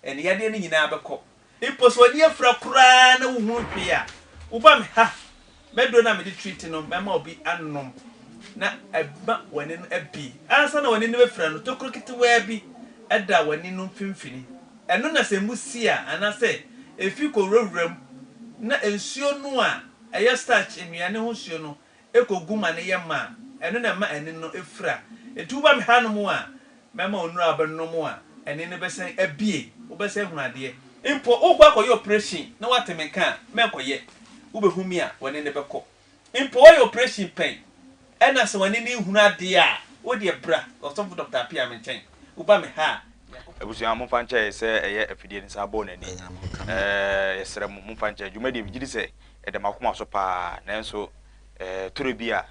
Ɛnde yadeɛ no nyinaa bɛkɔ. Mpo sɛ w'ani afira koraa na wohunu hwee a, woba me ha. M'aduro no a mede treat no, mɛma obi anom na ama w'ani no abue. Ansa na w'ani no bɛfira no, tokuro ketewaa bi da w'ani no mfimfini. Ɛno na sɛ mbu si a, anaasɛ efi kɔwurawura mu na nsuo no a ɛyɛ starch nnuane ho nsuo no kɔ gu ma no yɛ ma a, ɛno na ɛma ani no fira. Enti woba me hanom a, mɛma wo nnuro a wobɛnom a ani no bɛsan abue, wobɛsan ahunu adeɛ. Mpo wokɔ akɔyɛ oprehyɛn na woate me nka a, mɛnkɔyɛ. Wobɛhu me a, w'ani no bɛkɔ. Mpo woayɛ oprehyɛn pɛn na sɛ w'ani no nhunu adeɛ a, wo deɛ bra, ɔsɔfo Dɔkta Appiah, me nkyɛn. Woba me ha a, Nyankopɔn. Abusua, momfa nkyɛ sɛ ɛyɛ afidie no saa bɔɔ n'ani. Ɛɛ, yɛsrɛ mo, momfa nkyɛ dwumadie no. Megye di sɛ ɛda m'akoma so pa ara, nanso toro bi a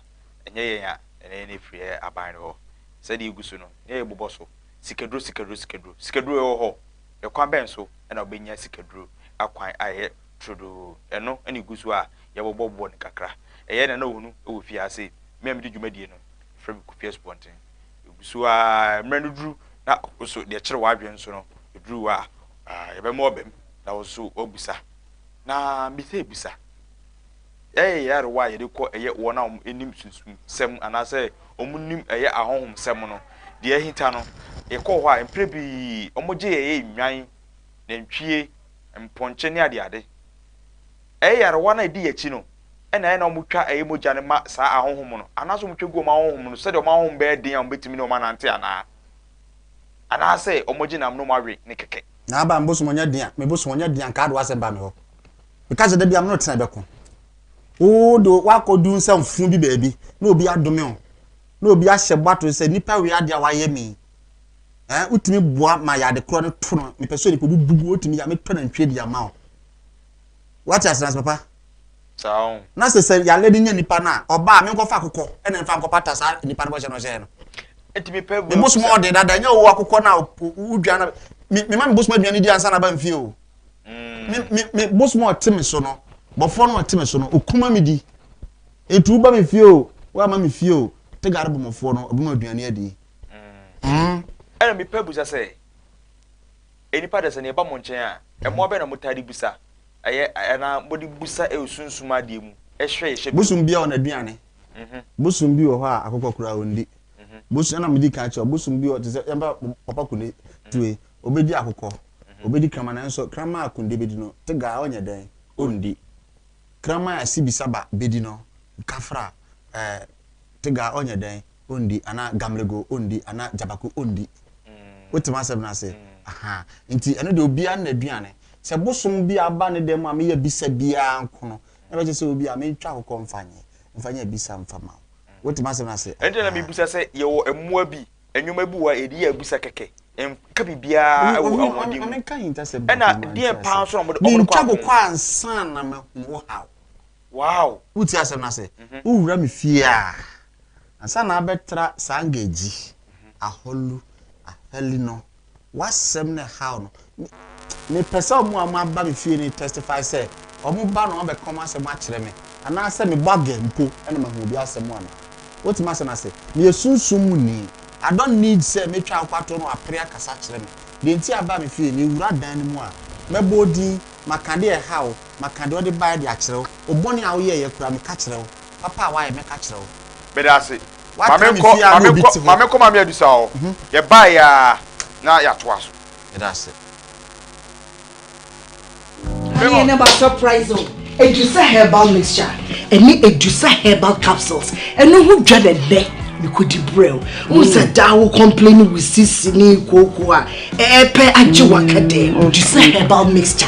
ɛnyɛ yɛn a ɛne yɛn afiri yɛ aban no hɔ. Sɛdeɛ ɛgu so no, nea yɛbobɔ so, Sikaduro, sikaduro, sikaduro. Sikaduro ɛwɔ hɔ? Ɛkwan bɛn so na wobɛnya sikaduro akwan a ɛyɛ turodoo? Ɛno na ɛgu so a yɛbobɔbobɔ no kakra. Ɛyɛ na na ɔhunu wɔ fie ha se me a medi dwumadie no, wɔfrɛ me Kofi Asubɔnten. Ɛgu so ara, mmerɛ no duru na wo nso deɛ ɛkyere w'adwene so no, ɛduru wo a, yɛbɛma wo abam na wo nso woabusa Na bisabisa, Yɛyɛ nyarewa a yɛde kɔ yɛ wɔn a wɔnim sunsumsɛm anaasɛ wɔnim ɛyɛ ahonhomsɛm no deɛ ahita no, yɛkɔɔ hɔ a, mprɛ bi wɔgye yɛn yɛ nnwan, nantwie, mpɔnkye ne adeade. Ɛyɛ nyarewa no a ɛdi yɛn akyi no na ɛyɛ na wɔtwa ɛyɛ mogya no ma saa ahonhom no, anaasɛ wɔtwa gu wɔn ahonhom no sɛdeɛ wɔn ahonhom bɛyɛ den a wɔbɛtumi ne wɔn anante anaa? Anaasɛ wɔgye nam nom awe ne kɛkɛ. Na aba me bosom ɔnya dian, me bosom ɔnya dian nkaa do asɛm ba me hɔ. Meka sɛ, Da biara me ne wo tena bɛko. Wo de woakɔdu nsɛmfo bi baabi na obi adome wo, na obi ahyɛ bɔ ato sɛ nnipa wei adeɛ a wayɛ me yi, eh, wotumi boa ma yɛ ade korɔ no to no, mepɛ sɛ onipa bi bu gu, wotumi yɛ a mɛtɔ nantwie de ama wo. Wate ase nase papa? Saa ɔho. Na sɛ sɛ yare bi nya nipa no a, ɔba a, menkɔfa akokɔ na mfa nkɔpata saa nipa no bɔhyɛ no ɔhyɛɛ no. Eti mi pɛ bu. Me bosom ɔde dada nyɛ ɔwɔ akokɔ na wodwa na me me ma me bosom aduane ne di ansa na ba mfie o. Mm. Me me me bosom ɔte me so no, bɔfoɔ no ɔte me so no, okuma me di. Eti woba me fie o, woama me fie o, te gare bɔmɔfoɔ no, ɔbɛma aduane adi. Mm. Mm. Ɛna mi pɛ busa sɛ, enipa dɛ sɛ ne ɛba mo nkyɛn a, ɛmoa bɛ na mo taa de busa? Ɛyɛ anaa bɔde busa ɛwɔ sunsum adeɛ mu ɛhwɛ yɛ hyɛ bɛ. Bosom biaa ɔnaduane bosom bi wɔ hɔ a akokɔ koraa ɔndi bosom ɛna medi kan kyerɛw bosom bi wɔ te sɛ yɛmfa papa kunde tue ɔbɛdi akokɔ ɔbɛdi kraman nanso kraman a kunde bɛdi no tegaa ɔnyɛ dɛn ɔndi kraman a sibisaba bɛdi no kafra ɛɛ tegaa ɔnyɛ dɛn ondi anaa gamlego ondi anaa gyabaku ondi. Wote m'asɛm no ase? Ahaa. Nti ɛno deɛ obiara ne n'aduane. Sɛ bosom bi aba ne dan mu a meyɛ bisa biara nko no, na ɛbɛkyerɛ sɛ obi a mentwa ho kɔ mfa nyɛ, mfa nyɛ abisa mfa mma wo. Wote m'asɛm no ase? Ɛno nti na mebisa sɛ yɛwɔ mmoa bi, nneɛma bi wɔ hɔ a yɛde yɛ abisa kɛkɛ. Ɛnka biribiara wɔ ahoɔden mu. Ɛnna deɛn paa nso na wɔde kɔ akono? Mentwa ho kɔ ansa na mahu wo haw. Wow! Wotie asɛm no ase? Wowura me fie a, ansa na abɛtra saa ngadzi ahɔlu ahɛli no, w'asɛm na ɛhaw no. Mepɛ sɛ wɔn a wɔaba me fie no testify sɛ wɔba na wɔabɛka wɔn asɛm akyerɛ me, anaasɛ mebɔ aga mpo na mahu obi asɛm a meka. Wote m'asɛm no ase? Meyɛ sunsum mu ni. I don't need sɛ metwa nkwato na wɔapere akasa akyerɛ me. Deɛ nti a aba me fie, mewura dan no mu a, mɛbɔ wo din, maka deɛ ɛhaw wo, Maka deɛ ɔde baeɛ de akyerɛ wo. Wo bɔne a woyɛeɛ koraa, meka kyerɛ wo. Papa a woayɛ, mɛka kyerɛ wo. Meda ase. Ma Woatra me menkɔ, fie a ma na obi menkɔ, te ma hɔ. menkɔ Maame Adusa hɔ. Yɛbaeɛ ara na yɛatoa so. Meda ase. Bring Adeɛ on. no aba surprise o. Edusa herbal mixture ne Edusa herbal capsules ɛno ho dwa na ɛnnɛ mekɔdi brɛoo. Wohu sɛ daa wo complaini wo sisi ne kookoo a ɛɛpɛ agye w'akadɛɛ. Edusa herbal mixture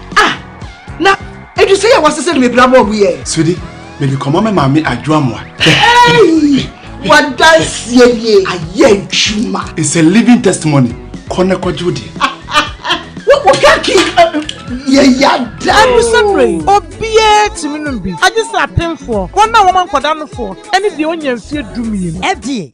ah na edu sɛ yɛ wɔsesɛ no mebira bɔɔ mu yɛ sodi mede kɔma me maame adwoa mmoa wadanseɛ nie ayɛ adwuma it's a living testimony kɔ na kɔgye wo deɛ wokaki yɛyada abusabere yi obiara tumi nom bi agye sɛ apemfoɔ wɔn a wɔma nkɔda nofoɔ ɛne deɛ ɔnya mfeɛ dumienu ɛdeɛ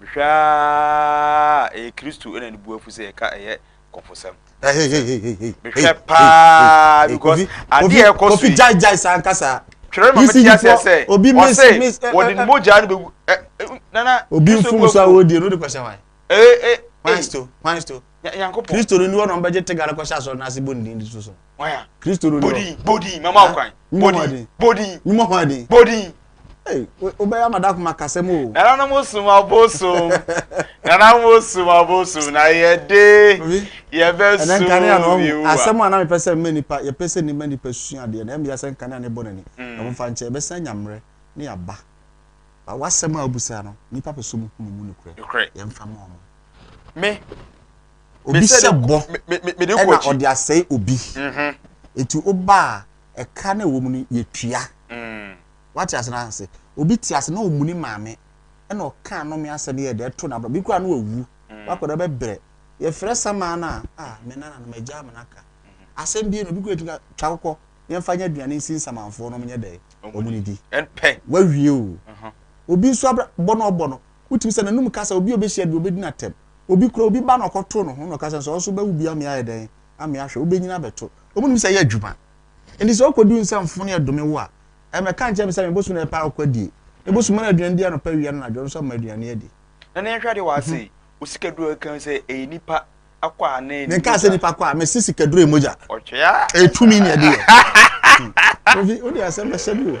Mehwɛ aa a ɛyɛ Kristo na ne bo afu sɛ yɛka ɛyɛ kɔfosɛm. Mehwɛ paa because adeɛ a ɛkɔ so yi. Gyae gyae saa nkasa. Twerɛ ma mete aseɛ sɛ ɔse wɔde ne mogya no bɛgu nana. Obi mfumu so a wɔdie no wode kɔhyɛ wan? Ee ee. Kwan sto kwan sto. Nyankopɔn. Kristo no ni hɔ na wɔbɛgye tega no kɔhyɛ asɔre no ase bɔ ne din de so so. waya kristo no bodin bodin mama wo kwan bodin bodin nyuma ho aden bodin wobɛyɛ amada koma kasɛm o nananom som abosom nananom osom abosom na yɛde yɛbɛsom yehowa asɛm a na mepɛ sɛ mma nipa yɛpɛ sɛ nima nipa sua adeɛ na ɛmmea sɛ nkanea ne bɔ n'ani mm. na momfa nkyɛ ɛbɛsan nya mmerɛ ne yɛaba ba wasɛm a wobusaa no nipa pɛ sɛ mu hunu mu nokorɛ yɛmfa ma ɔmo me Obi hyɛ bɔ na ɔde asɛe obi. Enti woba a, ɛka na ɛwɔ mu no, yɛtua. Woate ase no ase? Obi te ase na ɔmmu ne maame na ɔka anome asɛm yɛ dɛ to no abra. Bi koraa na wawu. Wakɔda bɛbrɛ. Yɛfrɛ samaa no a, ah, me nana no, m'agya ama no aka. Asɛm bi no, obi koraa tumi ka, twa kokɔ, yɛmfa nyɛ aduane nsi nsamanfoɔ no, wɔnyɛ dɛ, wɔn ne di. Wawie o. Obi nso abra bɔ na ɔbɔ no, wotumi sɛ n'anum kasa, obi a ɔbɛhyia bi, ɔbɛdi no atɛm. Obi kura obi ba na ɔkɔto ne ho na ɔka sɛ, Sɛ wo nso wobɛwo bi a, me ayɛ dɛn? Ame ahwɛ. Wobɛnyini abɛto. Wɔnnim sɛ ɛyɛ adwuma. Enti sɛ wokɔduru nsɛmfo ne ɛdome wo a, ɛmmɛka nkyerɛ me sɛ me bosom na ɛpɛ a wokwadie. Me bosom ma no aduane di anɔpa, awia ne anadwo nso ama aduane adi. Na ne nhwɛdeɛ wɔ ha sei, wo sikaduro a ɛka ho sɛ ɛyɛ nipa akɔ a ne mogya. Menkaa sɛ nipa akɔ a, mese sikaduro yɛ mogya. Ɔtwea. Ɛyɛ tumi na ɛde yɛ. Kofi, wode asɛm bɛhyɛ me o.